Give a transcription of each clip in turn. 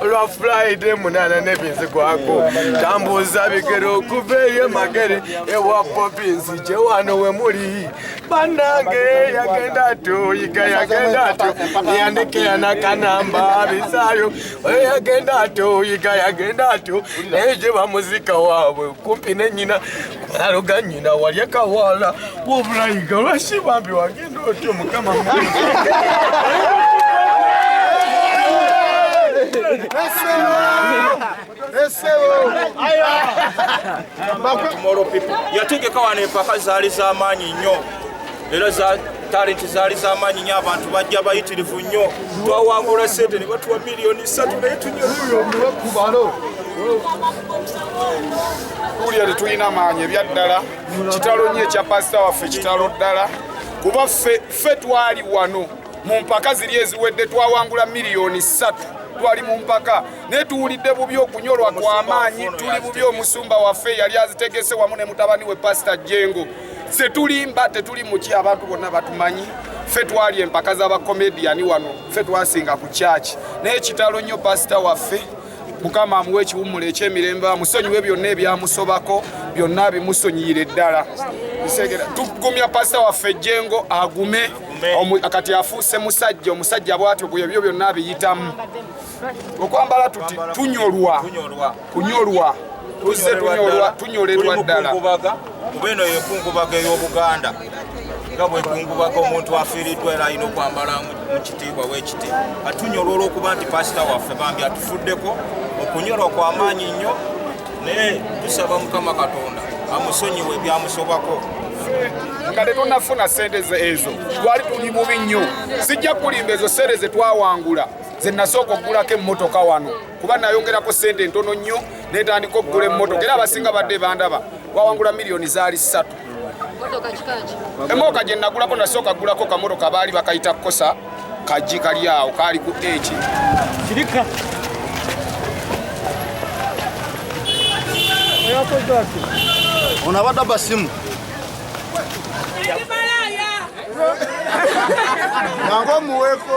olwa fulaide munana nebinzi gwako tambuza bigere okuva eyo emagere ewa popi nzije wano wemuli banange yagenda atyo yiga yagenda atyo yandikeya nakanamba bisayo oyo yagenda atyo yiga yagenda atyo naye gye bamuzika waabwe kumpi nenyina aluganyina walyekawala wobulayiga lwaki bambi wage yategeka wano empaka zaali zamaanyi nnyo era talenti zaali zamaanyi nyo abantu bajja bayitirivu nnyo twawangula sente ne batuwa miliyoni satu naye tunyewulira tetulina maanyi ebyaddala kitalo nnyo ekya pasita waffe kitalo ddala kuba ffe twali wano mu mpaka ziri eziwedde twawangula miliyoni ssatu twali mu mpaka naye tuwulidde bubi okunyolwa kw'amaanyi tuli bubi omusumba waffe yali azitegese wamu ne mutabani we pasita jengo ffe tulimba tetuli muki abantu bonna batumanyi ffe twali empaka z'abakomediyani wano ffe twasinga ku kyaki naye kitalo nnyo pasita waffe mukama amuwa ekiwummulo ekyemirembe amusonyiwe byonna ebyamusobako byonna bimusonyiyire ddala tugumya pasita waffe ejjengo agume kati afuuse musajja omusajja bwatyo bwe ebyo byonna abiyitamu okwambala tuti tunyolwa kunyolwa tuzze tunyolerwa ddala kuba eno yenkungubaga ey'obuganda nga bwekungubaga omuntu afiiriddwa era alina okwambala mu kitiibwa wekiti atunyolwa olwokuba nti pasita waffe bambi atufuddeko okunyolwa kwamaanyi nnyo naye tusaba mukama katonda amusonyiwe ebyamusobako nga tetunafuna sente ezo twali tuli bubi nnyo sijja kukulimba ezo sente zetwawangula zenasooka okugulako emmotoka wano kuba nayongerako sente ntono nnyo netandika okugula emmotoka era abasinga badde bandaba wawangula miliyoni zaali ssatu emooka gye nagulako nasooka gulako kamotoka baali bakayita kukosa kajji kali awo kaali ku eki ono abadde abasimu nange omuweeko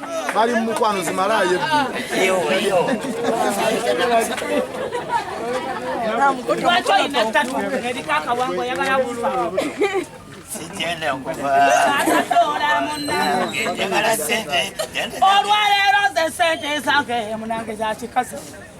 bali mu mukwano zimalayo olwaleero ze sente zange munange zakikazi